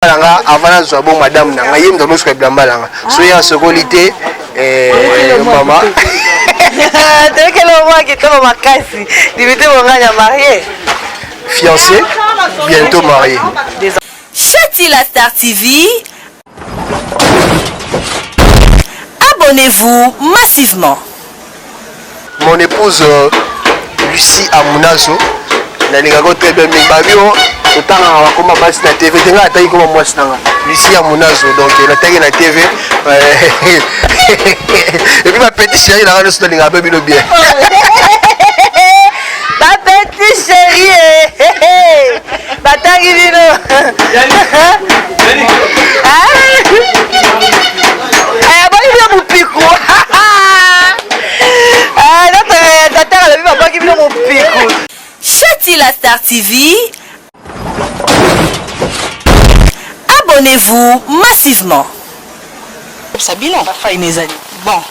na nga avant nazwa bo madame na nga ye moto amosuka bilamba na nga so ye asokoli te eh, mama toyokela omwa kitoko makasi limite bongani ya marie fiancé bientôt marie Chati la Star TV abonnez-vous massivement Mon épouse Lucie Amunazo nalingaka ko très bien mais babio totangaka bakoma basi na tv te ngai ataki koma mwasi nanga lucie amunazo donc nataki na tv epuis bapetit chéri nanga nyonso nalingaka mpe bino bien Bapeti cherie batangi bino boyi bino mopiku tata alobi babwaki bino mopiku Shati la Star TV Abonnez-vous massivement. Sabino. Ba faille mes amis. Bon.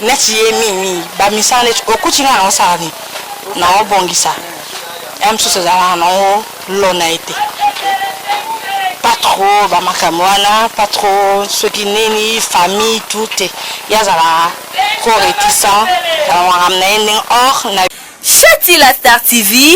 Neti ye mimi ba misala neti okuti nga na osala ni na obongisa. Ya msusu ezala na o lona ete. Pas trop ba makambo wana, pas trop soki nini famille tout te. Yazala ko retisa. Makambo na ye ndenge or na Shatila Star TV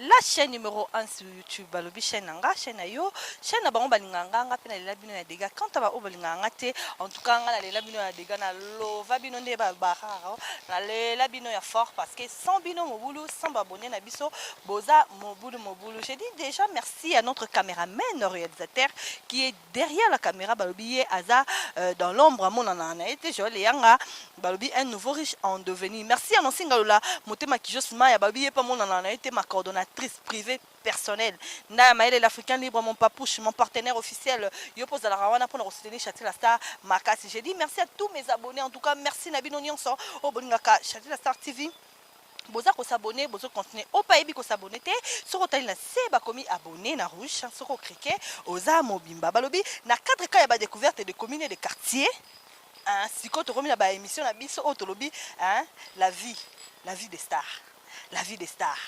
la chaîne numéro 1 sur youtube balobi chaîne na nga chaîne na yo chaîne na bango balingaka nga nga mpe nalela bino ya dega quant a baoyo balingaka nga te en tout cas nga nalela bino ya dega nalova bino nde balbararo nalela bino ya fort parce que sans bino mobulu sans babone na biso boza mobulu mobulu je dis déjà merci à notre cameraman réalisateur qui est derrière la camera balobi ye aza euh, dans l'ombre amonana na ye te joel eyanga balobi un nouveau riche en devenir merci anonsi ngalola motema kijos maya balobi ye mpe amonana na ye te ma coordonnatrice privée personnelle nda ya mayele l'africain libre mon papouche mon partenaire officiel yo mpe ozalaka wana mpo na kosoutenir chatila star makasi j'ai dit merci à tous mes abonnés en tout cas merci na bino nyonso oyo bolingaka chatila star tv boza ko s'abonner bozo continuer ope ayebi ko s'abonner te soki otali na se bakomi abonner na rouge soki okrike oza mobimba balobi na cadre ka ya ba découverte de commune et de quartier hein, sikoyo tokomi na ba émission na biso oyo tolobi hein, la vie la vie des stars la vie des stars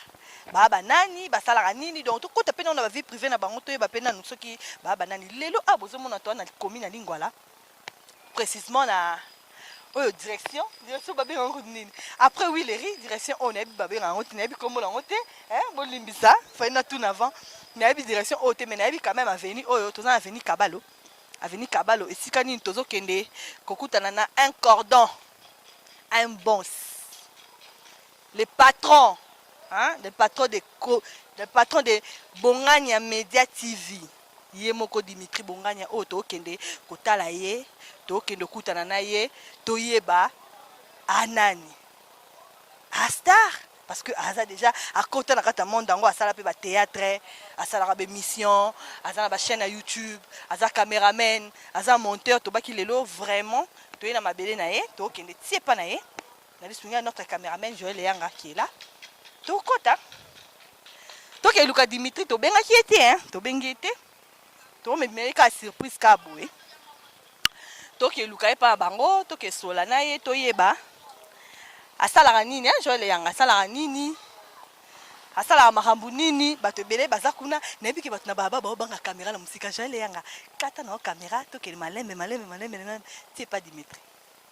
baa banani basalaka nini donc tokota mpe nano na ba vie privée na bango toyeba mpe nanu soki baa banani lelo a bozomona toa na commune ya lingwala précisement na oyo direction direction babenga yango nini après wileri direction oyo nayebi babenga yango te nayebi nkombo yango te eh, bolimbisa fai na tuna avant nayebi direction oyo te mais nayebi quand même aveni oyo toza na aveni kabalo aveni kabalo esika nini tozokende kokutana na un cordon un bons le patron hein, le patron de le patron de bongania media tv Ye moko Dimitri Bonganya oyo tokende kotala ye, tokende kokutana na ye, toyeba a nani a star parce que aza deja akota na kati ya monde yango, asala mpe ba theatre, asalaka ba emission, aza na ba chaîne ya YouTube, aza cameraman, aza monteur, tobaki lelo vraiment toye na mabele na ye, tokende tie epa na ye na lisungi ya notre cameraman Joël Eyanga qui est là tokota tokei luka Dimitri tobengaki ye te hein tobengi ye te tomemela ye kaka surprise kaka boye tokei luka ye mpa bango tokei sola na ye toyeba asalaka nini hein Joël Eyanga asalaka nini asalaka makambo nini bato ebele baza kuna nayebi ke bato na baba baobanga kamera na mosika jael eyanga kata na yo kamera tokele malembe malembe malembe malembe ti epa dimitri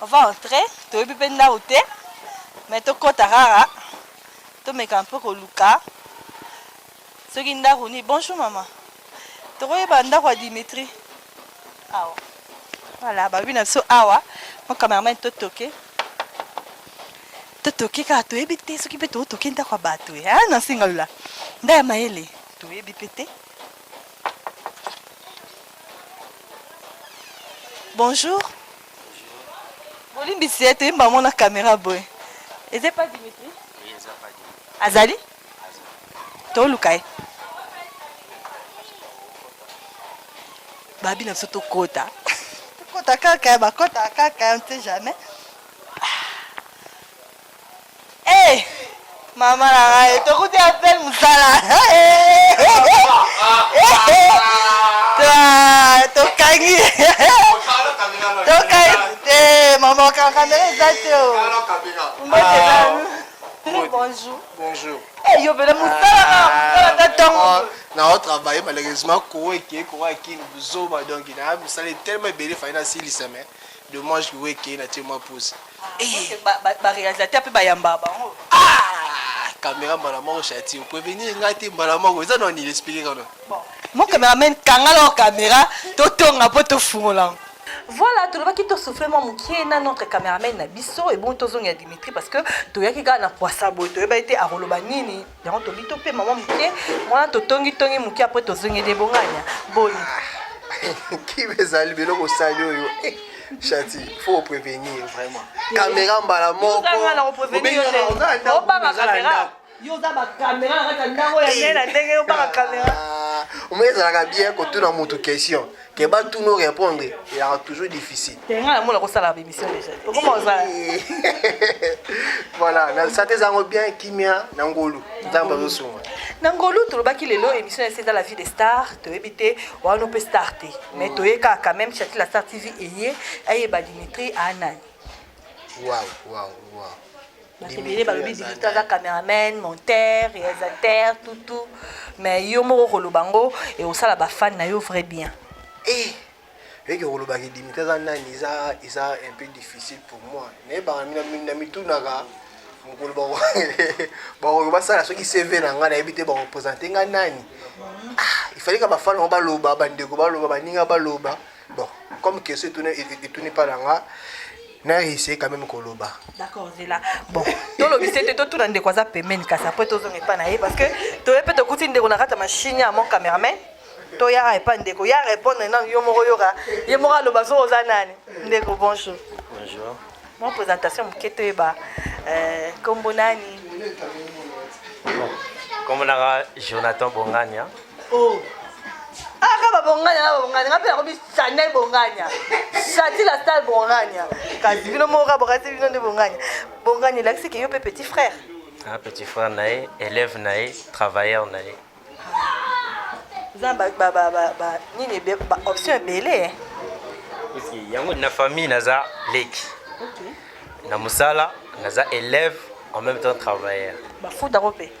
on va entrer toyebi mpe ndako te mais tokɔta kaka tomeka mpe koluka soki ndako nini bonjour mama tokoyeba ndako ya dimitri awa voilà babi na biso awa mo cameraman totoke totoke kaka toyebi te soki mpe totoke ndako ya bato e na nsinga lola nda ya mayele toyebi mpe te Bonjour. Bolimbisi ye toyemba yango na kamera boye. Eza epai Dimitri? Azali? Toluka ye. Babi na biso tokota. Tokota kaka, bakota kaka, on ne sait jamais. Eh mama na ngai tokuti appel mosala tokangi tokangi te mama okanga ndenge eza te o mbote bonjour bonjour eh yo bela mosala na mosala ta tongo na o travailler malheureusement ko eke ko akini buzoba donc na mosala tellement ebele fai na silisa mais Dommage que Weke na tie mwa pause. Eh, ba, ba, ba réalisateur pe ba yamba bango. Ah, caméra mbala moko chati. Prévenir nga te mbala moko. Eza na ni expliquer kana. Bon, mon cameraman kanga la caméra, to tonga po to fungola. Voilà, tolobaki to souffler mwa mokie na notre cameraman na biso et bon tozongi ya Dimitri parce que toyaki kaka na kwasa boye toyeba ete akoloba nini yango tobi to pema mwa moke mwana totongi tongi moke apres tozongeli ebonganya boni kibe ezali biloko osali oyo eh, shati faut prévenir vraiment caméra mbala moko obanga caméra yo oza bakamera na kati ya ndako ya ye na ndenge yo baka kamera omoi ezalaka bien kotuna motu question que ba tout nous répondre il a toujours difficile tenga la mona ko sala ba émission déjà comment on ça voilà na santé zango bien kimia na ngolu nzambe azo sunga na ngolu tolobaki lelo émission ya seza la vie des stars toyebi te wana mpe star te mais mm. toyeka quand même chati la star tv eye ayeba dimitri anani waouh waouh waouh bato ebele balobi dimitri aza cameraman monteur réalisateur tutu mais yo moko okoloba yango ekosala bafane na yo vrai bien eh, eke kolobaki dimitri aza nani eza eza un peu difficile pour moi nayebaka na mitunaka mokolo bakoki basala soki cv na ngai nayebi te bakopresente ngai nani ah, ifalika bafana yango baloba bandeko baloba baninga baloba Bon, comme question etuni etuni pa na nga na essaye quand même koloba d'accord zela bon tolobisa ete totuna ndeko aza pembeni kasi après tozonga epai na ye parce que toye mpe tokuti ndeko na kati ya machine ya mon cameraman toya epai ndeko ya répondre nano yo moko yoka ye moko aloba so oza nani ndeko bonjour bonjour mwa présentation moke toyeba euh, nkombo nani nkombo nanga jonathan bongania hein. oh. aka ah, babonganya na babonganya nga mpe nakomi chanel bonganya chati la stale bonganya kasi bino moko ka bokasi bino nde bonganya bonganya elakisi ke yo mpe petit frère ah, petit frère na ye élève na ye travailleur na ye eza nini baoption ebele eh. yango na famille naza leki na mosala naza élève en même temps travailleur bafuta ko mpe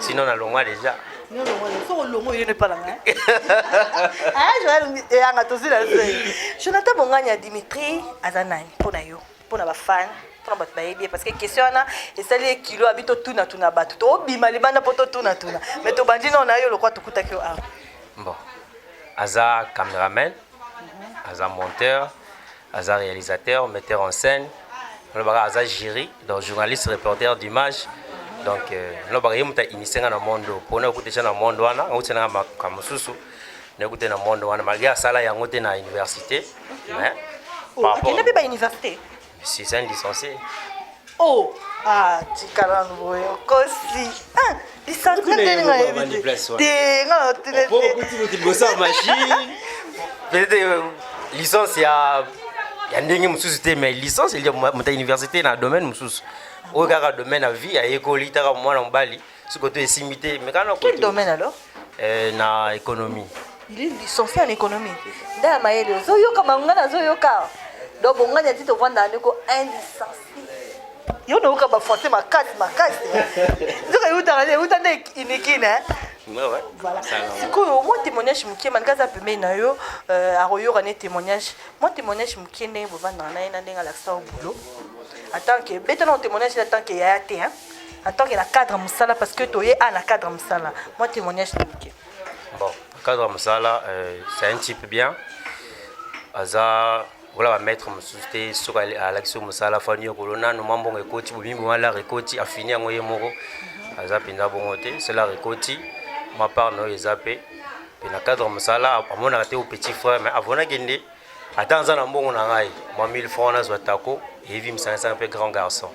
Sinon na longwa déjà. Non longwa le so longo yene pala nga. Ah Joël eyanga tozi la se. Jonathan Bonganya Dimitri azanani pona yo pona ba fan pona bato bayebi parce que question wana esali ye kilo abi totuna tuna bato tobima libanda mpo totuna tuna mais tobandi nao na yo lokwa tokutaki yo awa bon aza cameraman mhm. aza monteur aza realisateur metteur en scène nalobaka aza jury donc journaliste reporter d'image donc euh, nalobaka ye moto ainise nga na monde oyo mpona okuta eza na monde wana auti nanga makambo mosusu naekuta na monde wana malgré asala yango te na université mais oh, akenda mpe bauniversité si c'est un licencié Oh, ah, tika nanu boye okosi. Ah, lisansi nde nga yebi te. Te nga na tele te. Opo kuti kuti bosa machine. Peut-être euh, licence ya ya ndenge mosusu te mais licence elia moto ya université na domaine mosusu oyo kaka domaine ya vie ayekoli taka mwana mobali siko to esimbi te mais kana quel domaine alors euh, na économie il est licencié en économie nda ya mayele ozoyoka bango ngai nazoyoka donc bongani ati tovanda ndeko un licencié yo nayoka bafrançais makasi makasi nzoka eutaka nde euta nde inikine voilà sikoyo mwa témoignage moke manika aza pembeni na yo euh, akoyoka ne témoignage mwa témoignage moke ndenge bovandaka na ye na ndenge alakisa yo boulot atanke beta na témoignage na tanke yaya te hein en tant que na cadre musala parce que toye a na cadre musala moi témoignage na moke bon cadre musala euh, c'est un type bien aza wala bamaître mosusu te soki alakisi yo mosala fani yo kolo nanu mwa mbongo ekoti bobimi bongo alar ekoti afini yango ye moko aza mpenza bongo te selar ekoti mwa part na oyo eza mpe mpe na cadre mosala amonaka te o petit frère mais avonaki nde ata naza na mbongo na ngai mwa 1000 francs nazwa tako eyebi misangisanga mpe grand garçon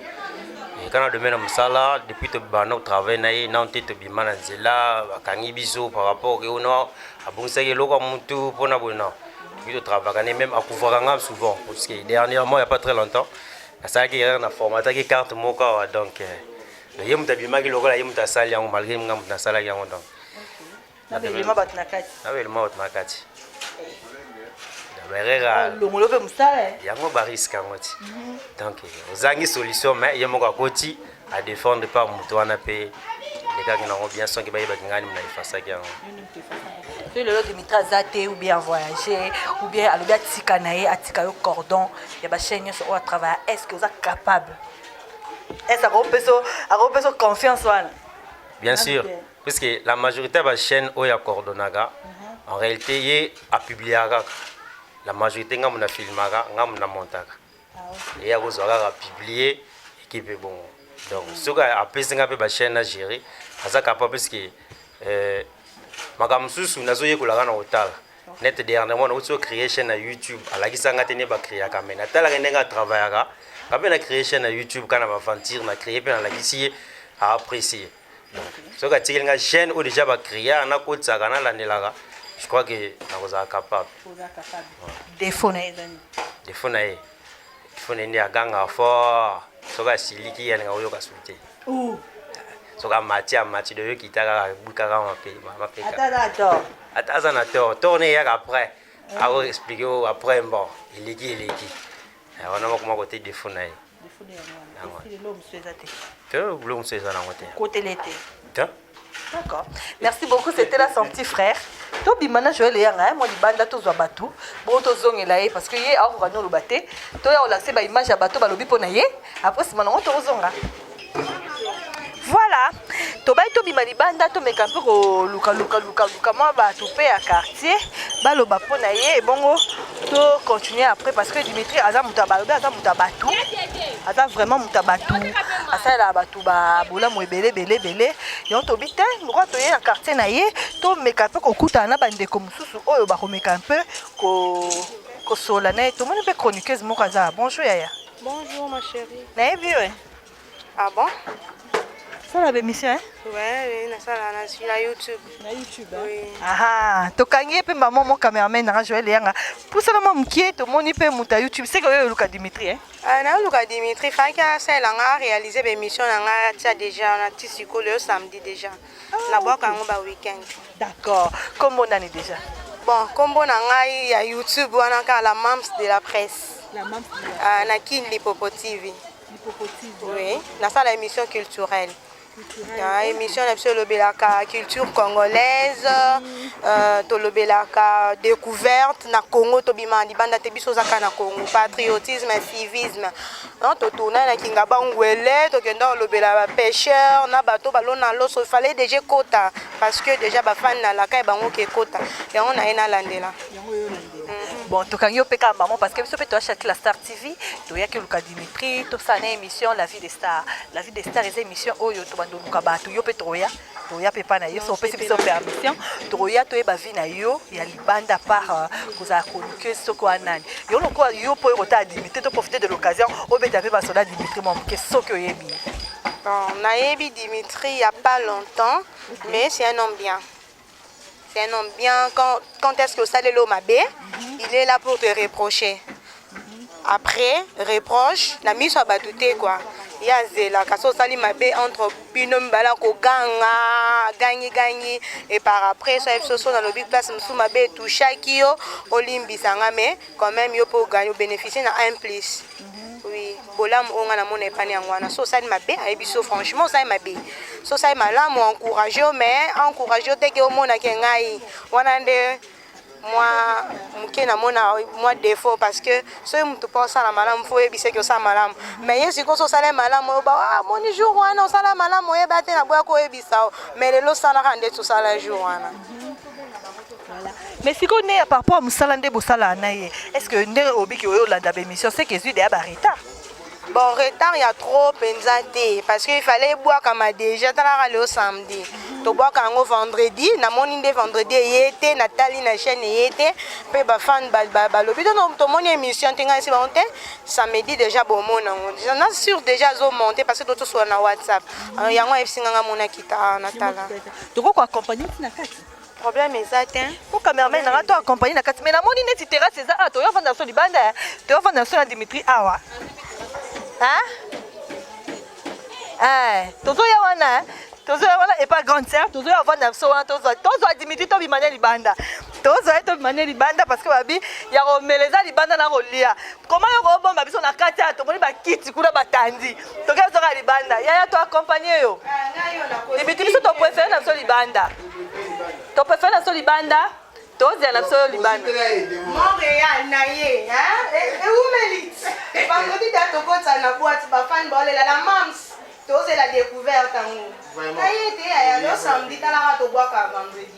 kana domaine ya mosala depuis tobanda kotravaille na ye nano te tobima na nzela bakangi biso par rapport ke ono abongisaki eloko ya motu mpo na boye na okoki totravaka ne meme akuvaka nga souvent parce que dernièrement ya pas très longtemps nasalaki erreur na formataki carte moko awa donc ye moto abimaki lokola ye moto asali yango malgré nga moto nasalaki yango donc na belema bato na kati na belema bato na kati merera ah, longolo mpe mosala eh. yango bariske yango ti mhm. donc eh, ozangi solution mais ye moko akoti adefendre mpa moto wana mpe elekaki nango bien soki bayebaki ngani mna efasaki yango soki lelo dimitri aza te ou bien avoyage ou bien alobi atika na ye atika yo cordon ya bachaine nyonso oyo atravaille est ce que oza capable est ce akopesa confiance wana bien sûr puisque la majorité ya bachaîne oyo acordonnaka mhm. en réalité ye apubliaka kaka la majorité ngambo na filmaka ngambo na montaka ah, ye akozwa kaka publie ekipe bongo donc mhm. soki apesi nga mpe bachaîne na gérer aza capable puisque euh, makambo mosusu nazoyekolaka na kotala nete dernièrement nauti o créer chaîne na youtube alakisa nga te nde bacreaka mai natalaka ndenge atravaillaka nga mpe na créer chaîne na youtube kana baventure na créer mpe nalakisi ye aapprécie soki atikeli nga chaîne oyo déjà bacriar nakotisaka nalandelaka je crois que nakozala capable defo na ye defo na ye defo na ye nde agangaka fort soki asiliki ye alinga koyoka su te soki amati amati doyo kita kaka ebukaka mapekaata aza na tor tor ne eyaka après ako explike o après bon eleki eleki wana makoma kote defo na ye biloko mosusu eza nango te kotele te d'accord merci beaucoup c'était là son petit frère tobima na joel eyanga ye mwa libanda tozwa bato bongo tozongela ye parce que ye akokoka noloba te toya kolakise baimage ya bato balobi mpo na ye après nsima nango tokozonga Voilà, tobaki tobima libanda tomeka mpe koluka luka luka luka mwa bato mpe ya quartier baloba mpo na ye ebongo to continuer après parce que Dimitri aza moto ya balobi aza moto ya bato aza vraiment moto ya bato asalelaka bato babolamu ebele ebele ebele yango tobi te lokola toye na quartier na ye tomeka mpe kokutana na bandeko mosusu oyo bakomeka mpe kosola na ye tomoni mpe chroniqueuse moko aza bonjour yaya bonjour ma chérie nayebi yo Ah bon Sala ba émission hein Ouais, na sala na suis na YouTube. Na YouTube. Hein? Oui. Ah, to kangi pe maman mon cameraman na Joël Yanga. Pour ça maman mkie to moni pe muta YouTube. C'est que yo Luka Dimitri hein. Ah, na Luka Dimitri faki a sala nga réaliser ba émission na nga tia déjà na ti sikolo yo samedi déjà. Ah, na boka okay. ngo ba week-end. D'accord. Comment on est déjà Bon, combo na ngai ya YouTube wana ka la Mams de la presse. La Mams. Ah, na Kin Lipopo TV. Oui, nasala émission culturelle. Ah, émission na biso elobelaka culture congolaise euh, tolobelaka découverte na congo tobima libanda te biso ozaka na congo patriotisme civisme totourna na kingaba ngwele tokenda kolobela bapêcheur na bato balona loso fallait déjà ekota parce que déjà bafani na laka ya bango ke ekota yango naye nalandela bon tokangi yo mpe kaka maman parce que biso mpe toyaki la star tv toyaki oluka dimitri tosala na émission la vie des stars la vie des stars eza émission oyo tobanda oluka bato yo mpe tokoya toya mpe epai na yo so opesi biso permission tokoya toyeba vie na yo ya libanda par euh, kozala chroniqueuse soki wana nani yo lokola yo mpo okotala dimitri to profite de l'occasion obeta mpe basoda dimitri mwa moke soki oyebi nayebi dimitri ya pas longtemps mais c'est un homme bien C'est un homme bien. Quand, quand est-ce que ça le mabe, il est là pour te reprocher. Après, reproche, la mise à batouté quoi. Il y a zela, kaso sali mabe entre bino mbala ko ganga, gangi gangi et par après ça ils sont dans le big place msou mabe touchaki yo olimbi sanga mais quand même yo pour gagner bénéficier na un plus. Oui, bolamu oyo nga namona epani yango wana so osali mabe ayebi so franchement osali mabe so osali malamu encourage yo mais encourage yo teke omona ke ngai wana nde mwa moke namona mwa defaut parce que soki motu mpo osala malamu fo oyebisa eke osala malamu mais ye sikoyo so osala malamu oyoba ah, moni jour wana osala malamu oyeba te naboya koyebisa o mais lelo osalaka ndeti osala jour wana mais sikoyo nde par rapport ya mosala nde bosalaka na ye est ce que nde obiki oyo olanda baémission seke ezwi deya baretard bon retard ya trop mpenza te parce que ifallait ebwakama déjà talaka leo samedi tobwaka yango vendredi namoni nde vendredi eye te natali na chaîne eye te mpe bafan balobi to tomoni émission te ngai si bango te samedi déjà bomoni yango na sur déjà azomonte parce que totosola na whatsapp yango ayebisi nga nga monaki ta natala Toko ko accompagner ti na kati. Problème eza te. Ko cameraman na to accompagner na kati mais na moni neti terrasse eza ah to yo vanda so libanda eh. to yo vanda so na Dimitri awa. Hein? Eh, tozo ya wana eh. tozo ya wana epa grande sœur tozo ya vanda so wana tozo tozo Dimitri to bimane libanda. tozo ya to bimane libanda parce que babi ya ko meleza libanda na ko lia. Comment yo ko bomba biso na kati ya to moni ba kiti kuna batandi. toke zoka libanda yaya to accompagne yo libiti biso to préfère na biso libanda to préfère na biso libanda tozela na biso yo libanda montréal na ye eumelit vendredi da tokota na boite bafani baolela la mams tozela découverte yango na ye te yaya lo samedi talaka tobwaka vendredi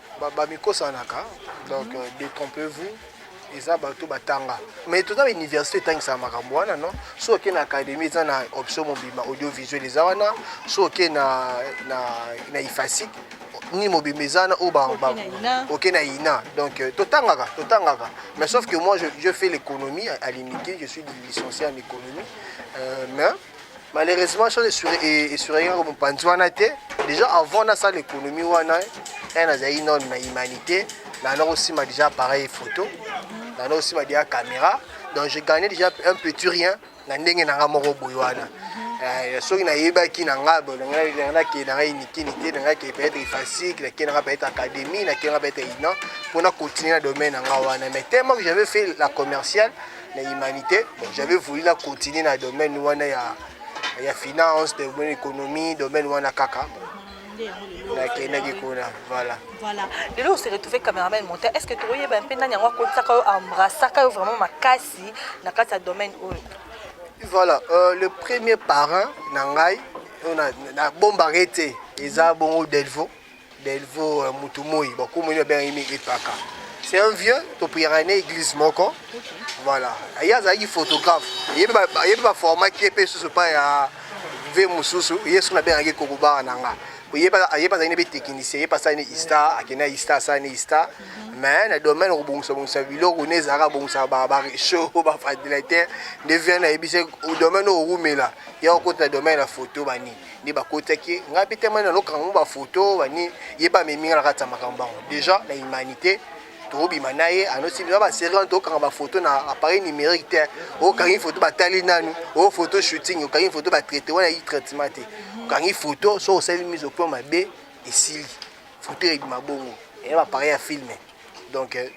bamikosanaka donc euh, détrompez vous eza bato batanga mais toza na université etangisaka makambo wana non soki oke na académie eza na option mobimba audiovisuel eza wana soki oke na, na, na ifasic ni mobimba eza wana oyo oke na ina donc euh, totangaka totangaka mais sauf que moi je, je fais l'économie à l'unité je suis licencié en économie euh, mais malheureusement chose esuraki kaka mopanzi wana te déjà avant nasala économie wana e nazalaki none na humanité nana kosima déjà appareil photo nana kosima déjà caméra donc je gagne déjà un petit rien na ndenge na nga moko boye wana eh, soki nayebaki na nga nakende nanga inikini te nanga kende peut-être ifasique nakende nanga peut-être académie nakende nanga peut-être inan mpona continuer na domaine na nga wana mais tellement que j'avais fait la commerciale na humanité bon, j'avais voulu na continuer na domaine wana ya ya finance domaine économie domaine wana kaka nakendaki kuna voilà voilà lelo ose retrouve cameraman monta est ce que tokoyeba mpe nani yango akotisaka yo embrassaka yo vraiment makasi na kati ya domaine oyo voilà euh, le premier parent na ngai oyo nabombaka ye te eza bongo delvaux Delvaux euh, mutu moi ba komoni ba benga yemi epaka. C'est un vieux to prière na église moko. Voilà. Aya azalaki photographe. Yebi ba yebi ba format qui est sous pas ya vie mususu yesu na bengaki kokobara na nga oyeba ayeba azali nebe technicien ye pasani ista akenda ista asani ista mais na domaine okobongisa bongisa biloko ne ezalaka bongisa ba ba rechaud ba ventilateur nde vie na yebisi domaine okowumela ya okota domaine ya photo banini nde bakotaki ye ngai mpe temani nalokaka yango bafoto bani ye mpe amemi ngai na kati ya makambo bango déjà na humanité tokobima na ye anosi biza baserie wana tokokanga bafoto na appareil numérique te okangi foto batali nanu o foto shooting okangi foto batraite wana yi traitement te okangi foto soki osali mise au point mabe esili foto ebima bongo eya bapareil ya filme donc euh,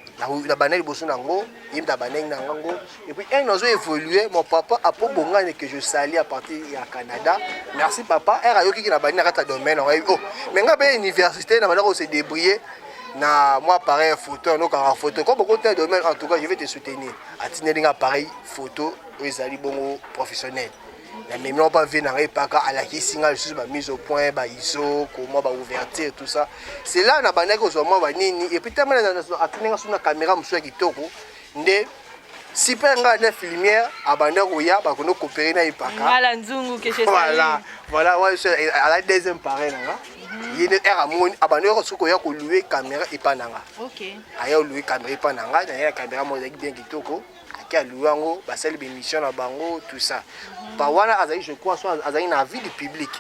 na bana liboso na yango ye mpe abanengi na yango et puis un oiseau évoluer mon papa apo bongani que je sali à partir ya canada merci papa r ayokiki na bani na kati ya domaine yango oh mais ngai mpe université na banda ko se débrouiller na mwa appareil ya photo yanokaka photo comme okota domaine en tout cas je vais te soutenir atindeli nga appareil photo oyo ezali bongo professionnel na memi mwa bavie na ngai epaka alakisi ngai lisusu bamise au point baiso komwa baouverture tout ça cela na bandaki kozwa mwa banini epuis tama atuni ngai so na kamera mosusu ya kitoko nde super ngai na filmière abanda koya bakondo kopere na epaka voilà voilà ouais, ala deuxième pareil na nga mhm. ye nde r amoni abandi yoko soki koya kolue kamera epa na nga aya olue kamera epa na nga naye na kamera moko ezalaki bien kitoko ake aluwe yango basali bemission na bango tout ça pa wana azali je crois so azali na avis du public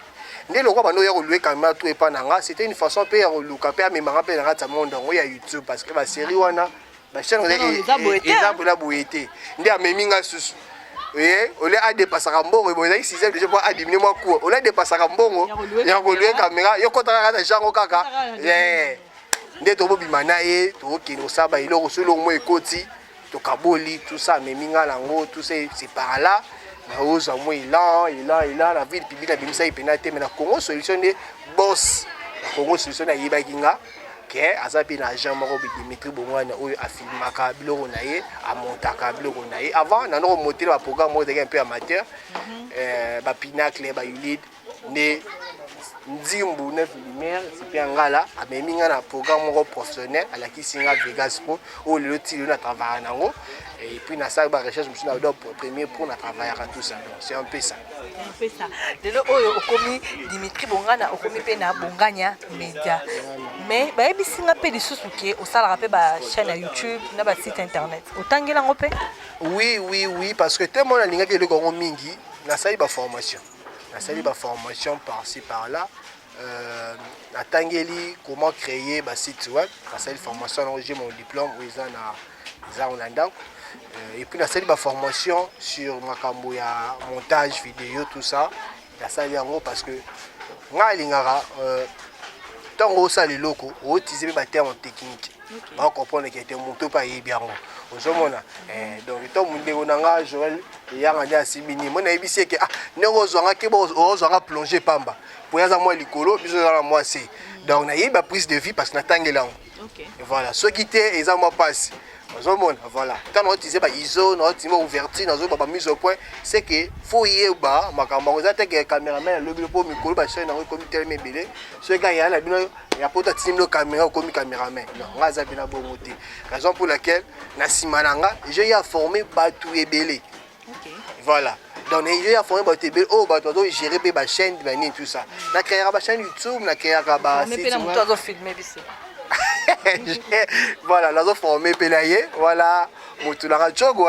nde lokola bando ya kolue kamera tout epa na nga c'était une façon mpe ya koluka mpe amemanga mpe na kati ya monde yango ya youtube parce que baserie wana bachaine eza bola boye te nde amemi nga susu oye ole adepasaka mbongo ebo ezalaki sixième déjà mpo adimine mwa cour ole adepasaka mbongo ya kolue kamera yo kotaka kaka na jango kaka nde tobobima na ye tokokende kosala baeloko solo mwa ekoti tokaboli tout ça amemi ngai nango tout ça c'est par là naoza mwa elan elan elan na ville publique abimisaki mpena te me na congo solution nde bos na congo solution nde ayebaki nga ke aza mpe na agent moko dimitri bongwana oyo afilmaka biloko na ye amontaka biloko na ye avant nano komotela baprogramme oyo ezalaki un peu amateur mhm. euh, bapinacle bayulide nde nzimbu 9 lumière sipe ya ngala amemi ngai na programme moko professionnel alakisi ngai vegas pro oyo lelo ti lelo na travaillaka na yango et puis nasalaki ba recherche mosusu na dop premier pro na travaillaka tout ça donc c'est un peu ça lelo oyo okomi dimitri bongana okomi mpe na bongania media mais bayebisi ngai mpe lisusu ke osalaka mpe ba chaîne ya youtube na ba site internet otangeli yango mpe oui oui oui parce que te mona alingaki eloko yango mingi nasali baformation nasali ba formation par ci par là euh, natangeli comment créer ba site web nasali formation yango j'ai mon diplôme oyo eza na eza na ndako euh, et puis nasali ba formation sur makambo ya montage vidéo tout ça nasali yango parce que ngai alingaka euh, ntango osala eloko ootise mpe baterme technique okay. ba comprendre que te moto mpe ayebi yango ozomona mm. eh, donc to mondeko na nga joel eyanga nde asimbi nini moi nayebisi eke ah ndenge ozwanga keba ozwanga plonge pamba mpo aza mwa likolo biso eza na mwa se mm. donc nayebi ba prise de vie parce que natangeli yango okay. voilà soki te eza mwa mpasi ozomona voilà ntango naotize baiso naotima ouverture nazoba bamise au point c'est que fo yeba makambo yango eza te ke cameraman alobi mpo mikolo basene yango ekomi telema ebele soki ayala na bino ya poto atindi no caméra okomi caméraman non nga aza bina bongo te raison pour laquelle na nsima na nga je ya forme bato ebele voilà donc je ya forme bato ebele oyo bato bazo gérer mpe bachaîne banini tout ça na créaka bachaîne youtube na créaka ba voilà nazo forme mpe na ye voilà motu nanga cogo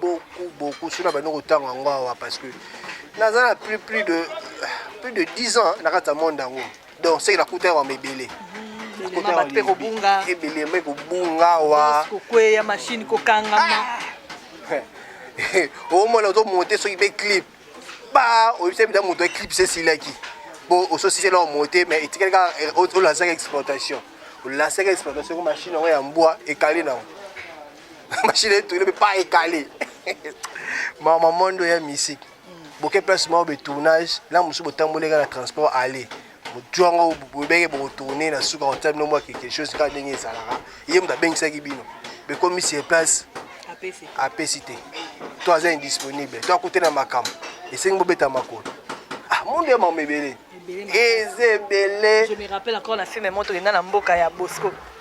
beaucoup beaucoup soki na bandi kotanga yango awa parce que naza na plus plus de plus de 10 ans na kati ya monde yango donc seke nakuta yango yango ebele mpe kobunga ebele mpe kobunga awa kokweya mashine kokangama omona ozomonte soki mpe clip ba oyebisa mpenza moto ya clip se esilaki bo ososisela omonte mais etikali kaka eh, olasaka exportation olasaka exportation ko mashine yango ya mbwa ekali nango mashine etu ile pas écalé mama mondo ya musique boke place moko be tournage la musu botamboli nga na transport aller motu yango bobenge bokotourne na suka kotia bino mwa quelque chose kaka ndenge ezalaka ye moto abengisaki bino bekomi sur place apesi te to aza indisponible to akute na makambo esengi bobeta makolo ah mondo ya mama ebele eza ebele je me rappelle encore na film moto enda na mboka ya bosco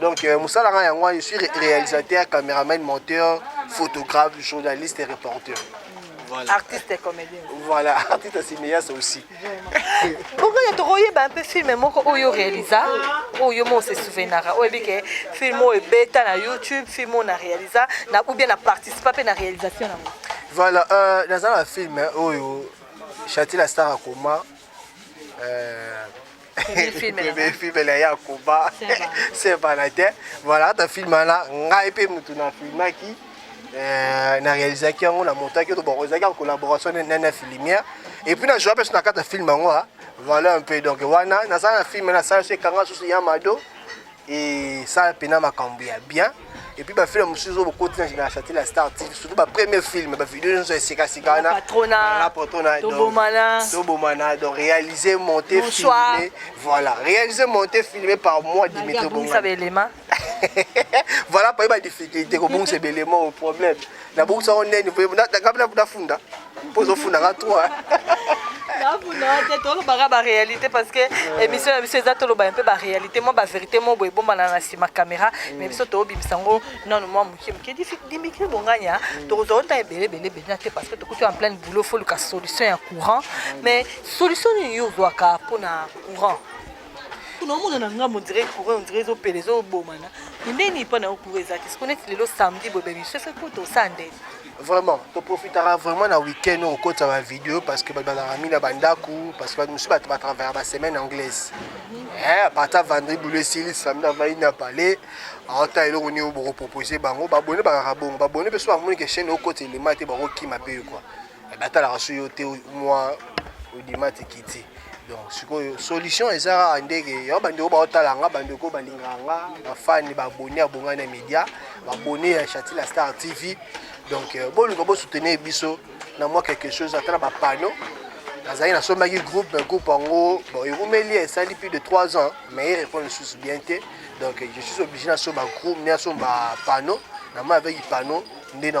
Donc, euh, Moussa Langa Yangwa, je suis réalisateur, caméraman, monteur, photographe, journaliste et reporter. Voilà. Artiste et comédien. Voilà, artiste et cinéaste aussi. Pourquoi tu as trouvé un peu film moko oyo réalisa, oyo mo se souvenara, oyo bike film oyo beta na YouTube, film oyo na réalisa, na ou bien na participa pe na réalisation na. Voilà, euh dans un film oyo Chati la star akoma euh filmela ya koba se bana te voilà ata filme wana ngai mpe motu na filmaki euh, na réalisaki yango na montaki to boko ezalaki en collaboration na nana filimière et puis na joa mpe so na kati ya filme yango ah. voilà un peu donc wana nasala na filme nasala so ekanga susu ya mado et ça pena makambo ya bien et puis ba film mosusu ozo bokoti na na château la star TV surtout ba premier film ba vidéo nyonso ya sika sika wana patrona la patrona donc tobomana tobomana donc réaliser monter Bonsoir. filmer voilà réaliser monter filmer par moi Dimitri Bongo bongisa belema voilà paye badifficulté kobongisa ebelema o problème nabongisa yango ndeni kabla nafunda mpo ozofunda nga trois tolobaka baréalité parce que euh. émission na biso eza tolobaka mpe baréalité mwa bavérité moko boye ebombana na nsima caméra mais mm. biso tobimisa yango nano mwa moke moke dimikri bonganya mm. tokozwa ota ebele ebele ebele na te parce que tokuti en pleine boulot fo luka solution ya courant mm. mais solution nini yo ozwaka mpo na courant kuna omona na ngambo ondire courant ondire ezopela ezobomana ndeni mpo na yo courant eza te siko neti lelo samedi boye bemiso efe mpo tosala ndeni vraiment toprofitaka vraiment na week-end oyo kokotisa bavideo parce que bato bazalaka mingi na bandako parce que bato mosusu bato batravaya basemaine anglaise eh, apartir vandri bulo esili samedi avai na palais aota eloko nini bokopropose bango babone bakaka bongo babone mpe so bamoni ke chaine okota elema te bakokima mpe yo kua eh, batalaka so yo te mwa odima te kiti donc sikoyo solution eza kaka ndeke yango bandeko baotala nga bandeko balingaka nga bafani babone ya bonga na média babone ya chati la star tv donc euh, boluka bosoutenir biso na mwa quelque chose ata na bapano nazali nasombaki groupe mais groupe yango bon eumeli esali plus de 3 ans mais erépondre lisusu bien te donc je suis obligé nasomba groupe nde nasomba pano na moi avec pano nde na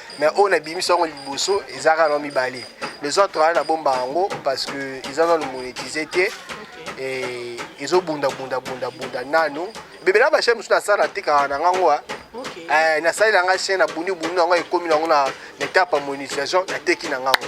mais oyo nabimisi yango liboso eza kaka na mibale les autres wana nabomba yango parce que eza nano monétise te ezobundabundabundabunda nano bebela bashai mosusu nasala natekaka na ngango a eh, nasali na ngai chaine na buni buni na yango ekomi na yango na etape ya monétisation nateki na ngango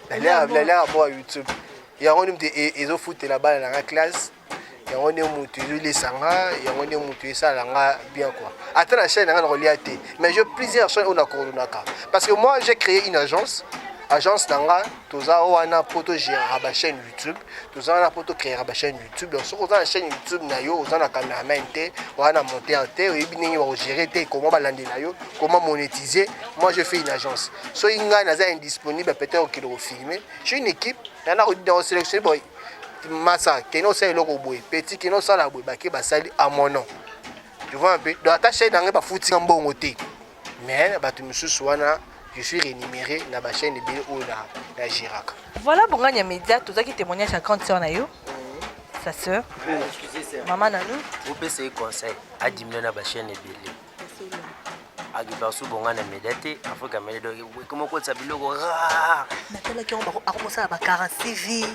nalela mwa youtube yango nde moto e, ezofutela bana na nga classe yango nde moto ezolisa nga yango nde moto esala nga bien quoi ata na chaîne na nga nakolia te mais je plusieurs chaîne oyo nakoordonaka parce que moi j'ai créé une agence agence na nga toza wana mpo togéraka bachaîne youtube toza wana mpo tocréaka bachaîne youtube donc soki oza na chaîne youtube na yo oza na cameraman te oza na monteur te oyebi ndenge bakogere te comment balandela yo comment monétiser moi je fais une agence soki ngai naza indisponible peut-être okende kofilme j'ai une équipe yana kosélectionne boy masa kende osala eloko boye petit kende osala boye bake basali à mon nom tu vois un peu donc ata chaîne na ngai bafuti nga mbongo te mais na bato mosusu wana je suis rémunéré na ba chaîne ebele oyo na, na géraka voilà bongani ya média tozalaki témoignage ya grande sœur na yo sa sœur mama na nous opesa ye conseil adimina na ba chaîne ebele akibasu bongani ya média te afrika mele donc ekoma kotisa biloko rare natalaki yango akokosala ba 46 vie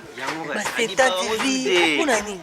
ba 70 vie mpo na nini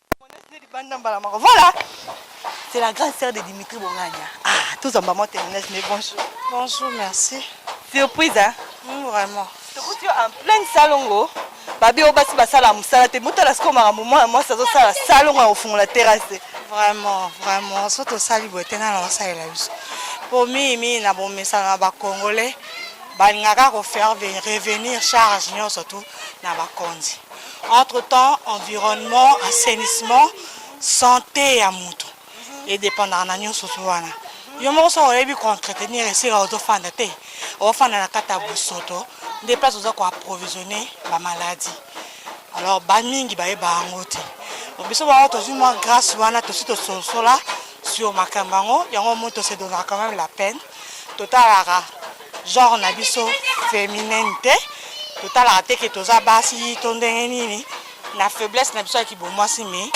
Voilà, c'est la grande sœur de Dimitri Bongania. Ah, tous en maman Thérèse, mais bonjour. Bonjour, merci. Surprise, hein mmh, Vraiment. tokuti yo en pleine salongo babi oyo basi basala mosala te botala sikoyo makambo mwana mwasi azosala salongo ya kofungola terrasse te vraiment vraiment so tosali boye te nana basalela biso mpo mingimingi na bomesano na bacongolais balingaka kofaire revenir charge nyonso tu na bakonzi Entre temps environnement, assainissement, sante ya mutu e dépendaka na nyonso so wana. Yo moko soki oyebi ko entretenir esika ozofanda te, ofanda na kati ya bosoto nde place oza ko approvisionner ba maladies. Alors ba mingi bayeba yango te. Biso bango tozwi mwa grâce wana tosi tososola sur makambo yango yango moto se donnera quand même la peine Totalaka genre na biso feminin te, totalaka te ke toza basi to ndenge nini na faiblesse na biso ya kibomwasi, mais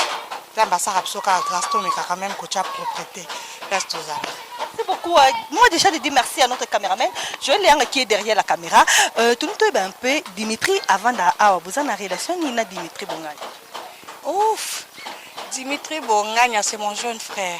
Nzambe asaka biso kaka grâce, tomekaka meme kotya propreté place tozalaka. Merci beaucoup. Euh, moi déjà je dis merci à notre caméraman Joël Leanga qui est derrière la caméra. Euh, tout le un peu Dimitri avant da awa vous en relation ni na Dimitri Bongani. Ouf. Dimitri Bongani c'est mon jeune frère.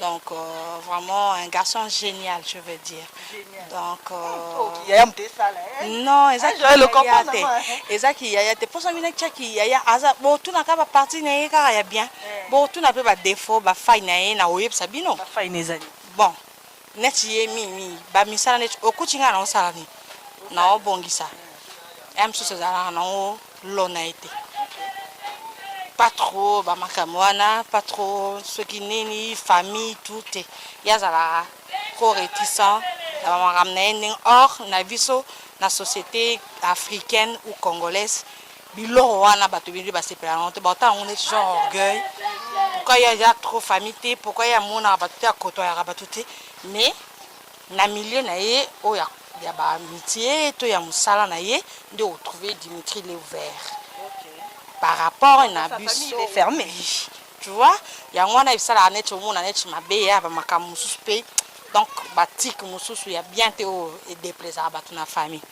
Donc euh, vraiment un garçon génial, je veux dire. Génial. Donc euh, yaya mte sala eh. Non, eza ki yaya te. Eza ki yaya te. Posa mina tcha ki yaya aza bo tuna ka ba partie na ye kaka ya bien. Eh. Bo tuna pe ba défaut, ba faille na ye na oyebisa bino. Ba faille na ezali. Bon. Neti ye mi mi ba misala neti okuti nga na osala ni. Na obongisa. Ya mosusu ezalaka nango lona ye te pas trop bamakambo wana pas trop soki nini famille tout te ye azalaka trop réticent na bamakambo na ye ndenge or na biso na société africaine ou congolaise biloko wana bato ebele basepela yango te baotala yango neti genre orgueil pourquoi ye aza trop famille te pourquoi ye amonaka bato te akotoyaka bato te mais Na milieu na ye oyo ya ya ba amitié to ya musala na ye nde o trouver Dimitri le ouvert par rapport na biso ferme tu vois yango wana esalaka neti omona neti mabe ya ba makambo mosusu pe donc ba tic mosusu ya bien te oyo edeplaisaka bato na famille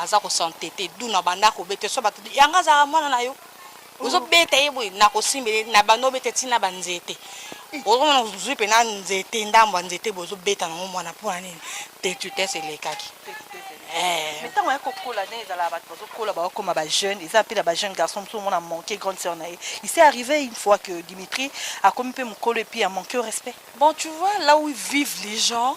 aza ko s'entêter d'où na banda ko beta so batu yango azalaka mwana na yo ozo beta ye boye na ko simbele na banda obeta ti na ba nzete ozo mona ozwi pe na nzete ndambo ya nzete boye ozo beta nango mwana mpo na nini tetutes elekaki eh. mais ntango ya kokola nde ezalaka bato bazokola bakokoma bajeune eza mpe na bajeune garçon mosusu omona manque grande sœur na ye il s'est arrivé une fois que dimitri akomi mpe mokolo epuis amanque au respect bon tu vois là où vivent les gens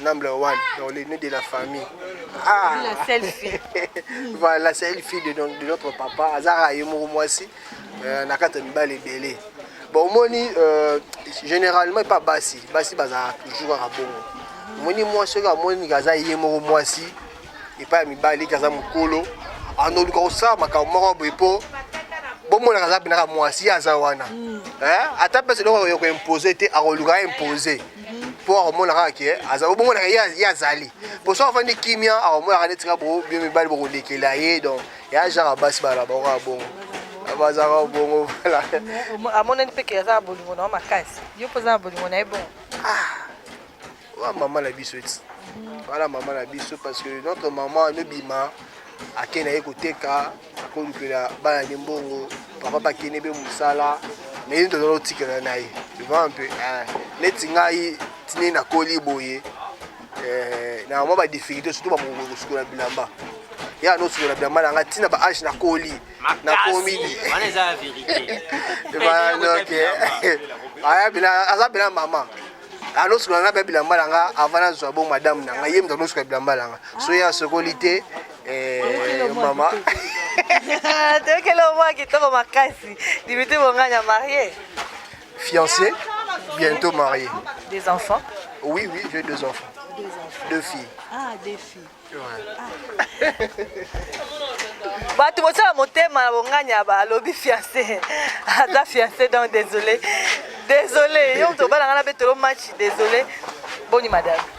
Number one, dans les nez de la famille. Ah. La seule fille. voilà, la seule fille de, de notre papa. Azara Yemuru Mwasi. Euh, Nakata Mibal et Belé. Bon, au moins, euh, généralement, pas Bassi. Bassi, Baza, toujours à bon. Moni Mwasi, à moi, Gaza Yemuru Mwasi. Et pas Mibali, Gaza Mukolo. En autre cas, ça, ma camarade, Bepo. bomonaka aza mpenaka mwasi aza wana ata mpe seloko akoya koimpose te akoluka impose mpo akomona kaka ke aza obongo na ye azali mpo soki afandi kimia akomonaka neti kaka bo mibali bokolekela ye donc ya genre basi bana bango kaka bongo bazaka bongo vala amonani mpe ke aza na bolingo na yo makasi yo mpo oza na bolingo na ye bongo ah, wa mama na biso ti wana mama na biso parce que notre maman anobima ake na ye koteka akolukela bana ne mbongo papa bakende mpe mosala mais ye tozala otikela na ye va mpe eh, neti ngai tine nakoli boye eh, na mwa badifficulté surtout bamokoki kosukola bilamba ye anosukola bilamba na ngai ntina ba age nakoli nakomi aza mpena mama anosukola ngai mpe bilamba na ngai avant nazwa bo madame na ngai ye moto anosukola bilamba na ngai so ye asokoli te Eh, mama toyokeli omwa kitoko makasi dimitri bonganya marie fiancé bientôt marié des enfants oui oui j'ai deux enfants deux, enfants. deux filles ah deux filles ouais. ah. bato bosala motema na bonganya balobi fiancé aza fiancé donc désolé désolé yo moto obala ngai na betolo match désolé boni madame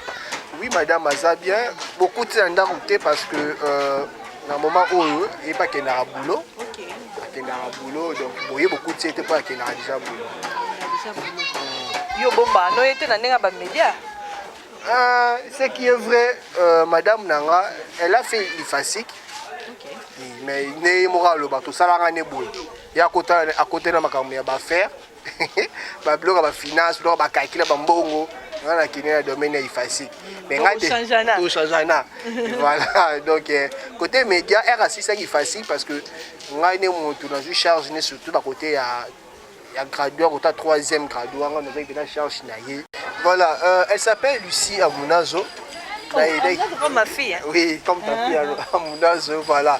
Oui madame aza bien bokuti na ndako te parce que euh, na moment oyo ye mpe akendaka boulot okay. akendaka boulot donc boye bokuti ye te mpo akendaka déjà boulot yo bomba no ye te na ndenge ya bamédia ah, ce qui est vrai euh, madame na nga elle a fait lifasique okay. mais nde ye moko aloba tosalanga nde boye ye akotela makambo ya bafaire ba biloko ya ba finance biloko ya ba calcul ya ba mbongo nga na kende na domaine ya ifasique mais nga de tochangana voilà donc euh, côté média r asisaki ifasique parce que ngai ne motu nazwi charge ne surtout na côté ya ya graduat kota troisième graduat nga nazaki mpena charge na ye voilà euh, elle s'appelle lucie amunazo oh, oui comme ta fille amunazo voilà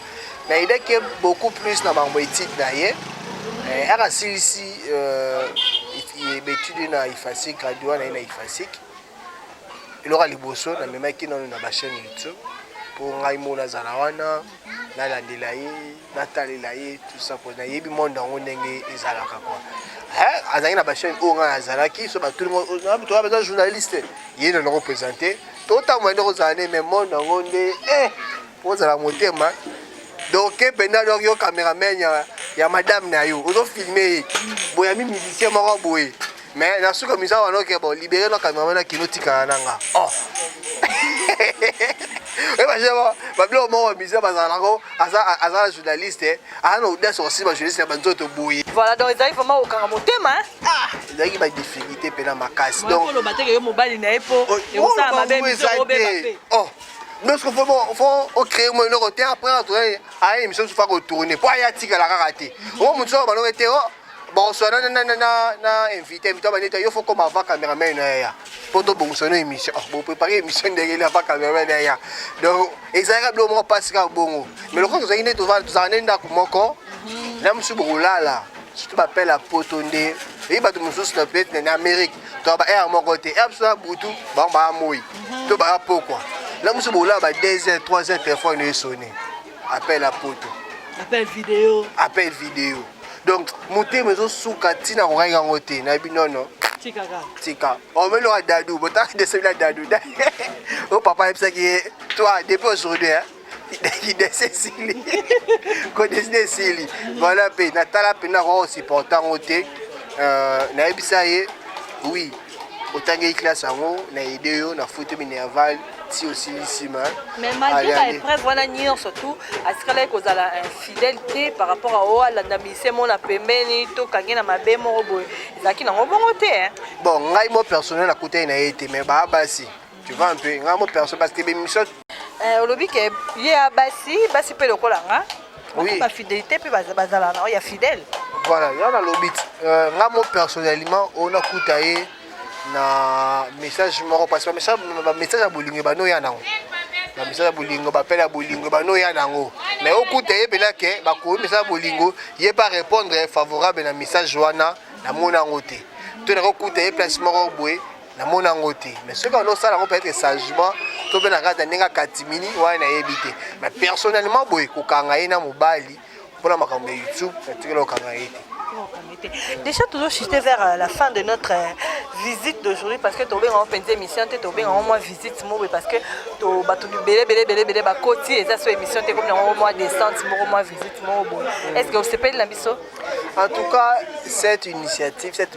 Na idee que beaucoup plus na makambo etide na ye eh, aka silisi euh, betide na ifasik graduat na ye na ifasik eloko ya liboso namemaki nano na bachaine youtube mpo ngai mo nazala wana nalandela ye natalela ye tusa mpo nayebi monde yango ndenge ezalaka kua azalaki na bachaine oyo ngai azalaki so batulimotoa baza journaliste ye nano kopresente totambola nde kozala nde me monde yango nde eh, ozala motema doke mpenza donc yo cameraman ya, ya madame na yo ozofilme ye boyami musicien moko boye mais na suka misa wana oke bo libere na cameraman na kino tikala na nga oh. ebashe babiloko moko musicien bazalako aza na journaliste aza na audace kosimba journaliste ya banzoto boye voilà donc ezalaki vraiment kokanga motema ah, ezalaki badifficulté mpe na makasi donc oloba teke yo mobali na ye mpo oh, ekosala mabe miso obeba mpe oh. donc faut faut faut au créer moi le côté après on doit à une mission faut pas retourner pour y attirer la karaté au monde ça va le été bon soit na na na na invité mais toi ben il faut comme avant caméraman ya pour tout bon sonner émission bon préparer émission derrière la caméraman derrière donc ezalaka blo moko pasika bongo mais lokoko tozali nde tozala nde ndako moko na mosusu bokolala surtout bapele ya poto nde eyi bato mosusu na peut-être na amérique to ba aire moko te aire biso na butu bango baya moi to baya pokwa na mosusu bolaa ba 2 heures 3 heures telefone esone appel ya poto appel video appel video donc motema ezosuka ntina kokaki yango te na bino no tika omeli oka dadu botaka desebila dadu o papa ayebisaki ye toi depuis aujourd'hui kidese esili kodeside esili voilà mpe natala mpenza koko supporta yango te euh, nayebisa ye oui otangeli classe yango na aide yo na foto minerval ti osilisi ma mais malgré ba épreuve wana nyonso tout asikalaki kozala infidèle te par rapport a oyo alanda mise mona pembeni to kangi na mabe moko boye ezalaki nango bongo te bon ngai mo personnel akutani na ye te mais baa basi Tu vois un peu, nga mo perso parce que l'émission euh, olobi ke ye ya basi basi mpe lokola nga oui. bafidélité mpe bazala na oyo ya fidèle voilà ya nalobi euh, nga mo personnellement oyo nakuta ye na message moko parce que bamessage ya bolingo ebanda oya nango bamessage ya bolingo bapele ya bolingo ebanda oya nango mais okuta ye mpena ke bakomi message ya bolingo ye pa répondre favorable na message wana namona yango te to nakokuta ye place moko boye namoni yango te mais soki bando osala yango peut-être sagement to mpe na kati ya ndenge akatimini wana nayebi te mais personnellement boye kokanga ye na mobali mpona makambo ya youtube natikela kokanga ye te Déjà, toujours chuté vers euh, la fin de notre euh, visite d'aujourd'hui parce que tu as fait une émission, tu as au moins visite Mourou parce que tu as tout belé, belé, belé, belé, bah, côté, et ça, c'est émission, tu as au moins descente, au moins visite Mourou. Est-ce que vous savez, la En tout cas, cette initiative, cette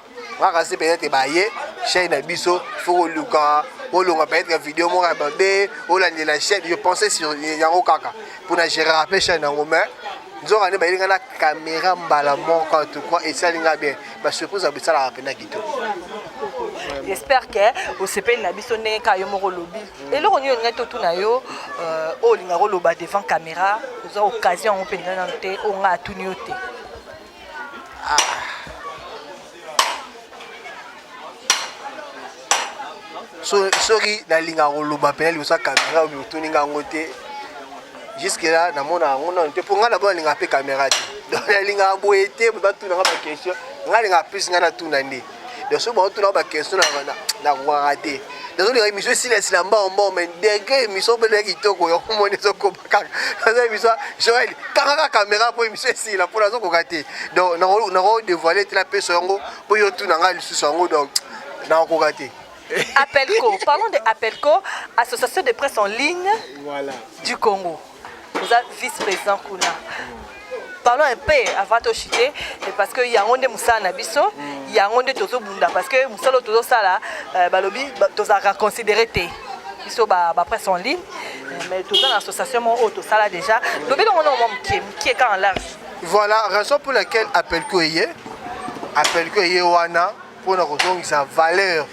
kaka se peut-être baye chaîne na biso faut koluka olonga peut-être video moko ya mabe olandela chaîne je pensais sur yango kaka mpo na gérer ape chaîne yango mais nzoka nde bayelinga na caméra mbala moko en tout cas esali nga bien basurprise ya bisalaka mpenza kitoko j'espère ke osepeli na biso ndenge kaka yo moko olobi mm. eloko nini olingai totuna yo euh, oyo olingaka oloba devant caméra oza occasion yango mpenza nano te oyo ngai atuni yo te soki nalinga koloba mpena liboso ya kamera oyo otuni nga yango te juske la namona yango nano te mpo ngai nabo nalingaka mpe kamera te donc nalingaka boye te batuna nga baquestion ngai alingaka plus ngai natuna nde donc soki baotuna nga baquestion nakokaka te nazolinga émission esila esila mbao mbao mai degre émission mpe na kitoko yango moni ezokoba kaza émission joel kangaka caméra mpo émission esila mpo nazokoka te donc nako dévoile te napesa yango mpo yo tuna ngai lisusu yango donc nakokoka te Apelco, parlons de Apelco, Association de presse en ligne voilà. du Congo. Vous êtes vice-président Kuna. parlons un peu avant to chute parce que yango nde mosala na biso mm. yango nde tozobunda parce que mosala oyo tozosala euh, balobi tozalaka considéré te biso bapresse en ligne euh, mais toza na association moko oyo tosala déjà lobi longo nongo mwa mokie mokie kaka large voilà raison pour laquelle appelko eye appelko eye wana mpo na kozongisa valeur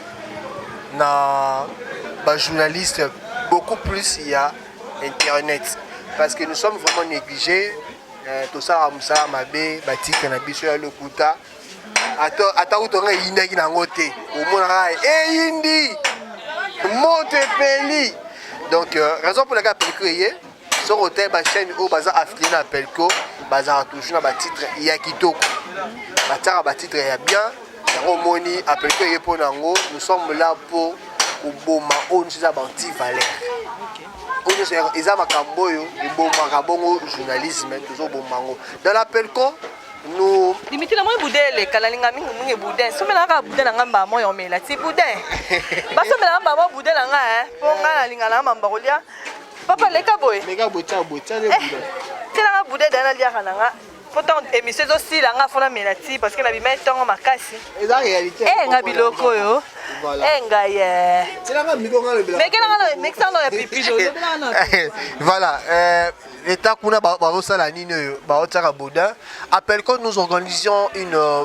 na bajournaliste beaucoup plus ya internet parce que nous sommes vraiment négligés euh, tosalaka mosala mabe batitre na biso ya lokuta ata kutu nga eyindaki na yango te omonaka eyindi moto epeli donc euh, raison mpo na kaka pelike eye soki otali bachaine oyo baza affilié na pelco bazalaka toujours na batitre ya kitoko batiaka batitre ya bien yango omoni apelco eye mpo na yango nous sommes là mpo koboma oyo nyonso eza banti valeur oyo nyonso eza makambo oyo ebomaka bongo journalisme tozoboma yango dans la pelco no limiti na moi boudin eleka nalinga mingi mingi boudin somelaka kaka boudin na ngai mbaa moi omela ti boudin basomelaka mbaa moi boudin na ngai mpo ngai nalinga na ngai mambo kolia papa leka boye leka boye tia boye tia le eh, bouda tia nga bouda dana liaka na nga po ntango émission ezosila nga fona mela ti parce que nabimai ntongo makasi eh, nga biloko oyo eh, ngai eh. mekelanga na pipido voilà eta kuna bazosala nini oyo baotiaka boudin appel code nous organisons une euh,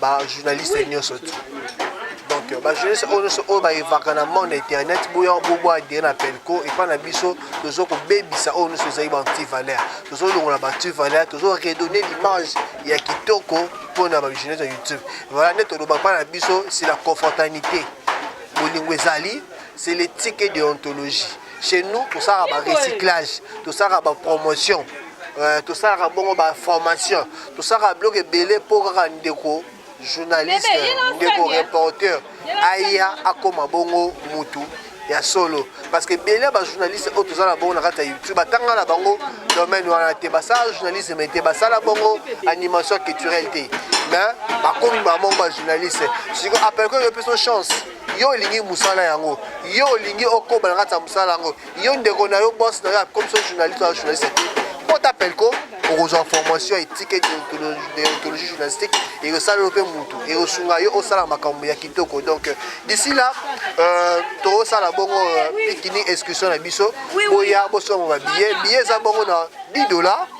ba journaliste nionso tu donc ba journaliste oyo nionso oyo ba evaka na monde internet boya bobo adire na pelco epa na biso tozo kobebisa oyo nionso ezali ba anti valeur tozo longola ba anti valeur tozo redonner l'image ya kitoko mpo na ba journaliste ya youtube voilà nde toloba mpa na biso c'est la confraternité bolingo ezali c'est l'éthique et deontologie chez nous tosalaka ba recyclage tosalaka ba promotion euh, tosalaka bongo ba formation tosalaka biloko ebele mpo kaka ndeko journaliste ndeko reporter aya akoma bongo mutu ya solo parce que ebele ya bajournaliste oyo toza na bongo na kati ya youtube batanga na bango domaine wana te basala journalisme te basala bongo animation culturelle te mais bakomi bango bajournaliste siko apelke yo mpe so chance yo olingi mosala yango yo olingi okoba na kati ya mosala yango yo ndeko na yo bos na yo akomi so journaliste oya journaliste te mpo ta pelco okozwa formation etike deontologie journalistique ekosala yo mpe motu ekosunga yo osala makambo ya kitoko donc euh, d'ici là euh, tokosala bongo euh, pikini excursion na biso boya bosomba babillet billet eza bongo na 10 dollars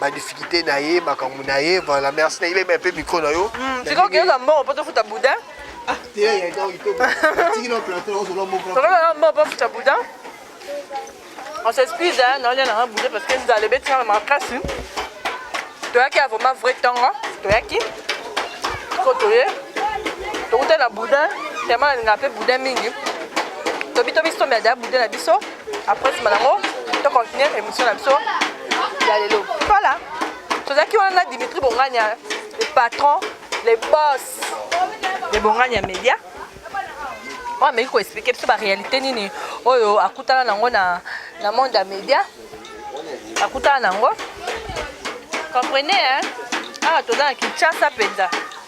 ba difficulté na ye makambo na ye voilà merci na yebema mpe micro na yo sikoyo okeyoka mbongo mpo tofuta boudin tokozala mbongo mpo tofuta boudin on s'excuse naolia nanga boudin parce que nzala ebeti nanga makasi toyaki ya vraiment vrai ntongo toyaki ko toye tokuta na boudin tellement nalingaka mpe boudin mingi tobi tobiso mia da boudin na biso Après nsima nango to continuer émission na biso ya lelo. Voilà. Tozalaki wana na Dimitri Bongania, le patron, le boss de Bongania Media. oyo ameki koexplike biso baréalité nini oyo akutana nango na, na monde ya média akutana nango comprenez hein? awa ah, toza na kinshasa mpenza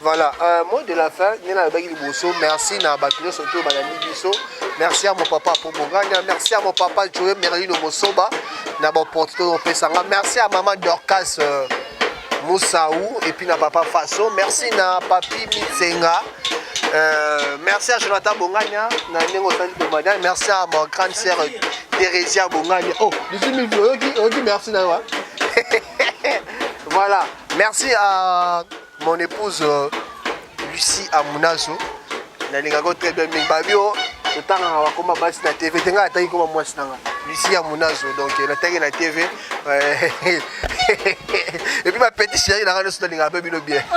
Voilà, euh, mot de la fin, nena alobaki liboso, merci na bato nyonso to balandi biso. Merci à mon papa pour Bongania, merci à mon papa Joe Merlino Mosoba na ba opportunité to pesa nga. Merci à maman Dorcas euh, Moussaou et puis na papa Faso. Merci na papi Mitsenga. Euh, merci à Jonathan Bongania, na ndenge osali Bongania. Merci à ma grande sœur Theresia Bongania. Oh, 18 000 oyoki, oyoki merci na yo. Hein? voilà merci à mon épouse euh, lucie amunazo nalingaka yo très bien mingi babi o totangaka bakoma basi na tv te ngai ataki koma mwasi na ngai lucie amunazo donc euh, nataki na tv epuis bapetit chéri na ngai nyonso nalingaka mpe bino bien oh,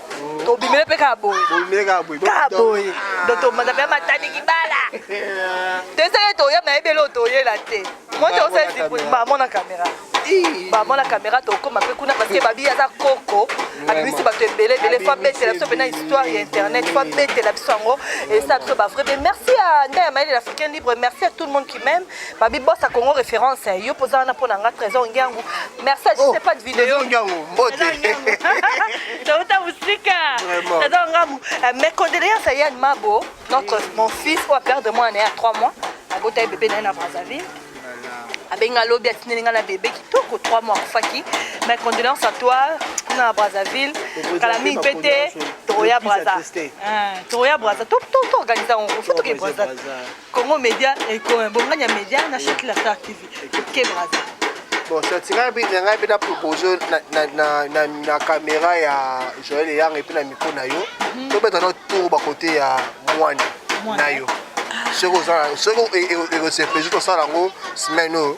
tobimele mpe kaka boye kaka boye do tomanda mpe matani kibala toyesaki toya nayebi eloo toyela te mote osaezibuli bamona kamera bamona kamera tokoma mpe kuna parceke babi aza koko abimisi bato ebele ebele fo abetela biso mpena histoire ya internet fo abetela biso yango esa biso bavrai be merci ya nda ya mayele africain libre merci à tout le monde qui meme Babi bossa Congo référence eh, yo poza wana pona nga trésor ngiangu. Merci à juste oh, pas de vidéo. Trésor ngiangu, mbote. Tauta musika. Trésor ngiangu. Euh, mes condoléances à Yann Mabo, notre mon fils ou à perdre moi né à 3 mois. À Bota bébé né à Brazzaville. abenga lobi atindeli ngai na bebe kitoko 3 mois akufaki mais condoléance à toi kuna na brazzaville kala mingi mpe te tokoya braza tokoya braza toorganiza yango fo toke braza Congo Media ekoma bonganya media na Sheikh Lassar TV. Ke braza. Bon, ça tira bi na ngai beta proposer na na na na, na caméra ya Joël Yang et puis na micro na yo. Mhm. To beta no tour ba côté ya Mwani na yo. Ah. Soko za soko e e e se peser to sala ngo semaine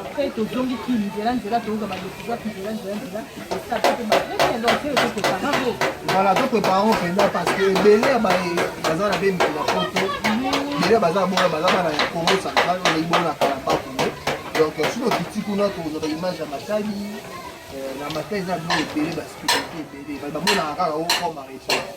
après tozongi ki nzela nzela toyoka badecision ki nzela nzela nzela esata mpe bapreke donc te tokokanga bo voilà to préparons mpenza parce que ebele ya baye baza na mpe mikolo ya poto ebele baza bona baza bana ya congo central oyo eyibona na kalambako donc soki okiti kuna tokozwa baimage ya matali na matali eza bino ebele baspirité ebele bamonaka kaka okoma reto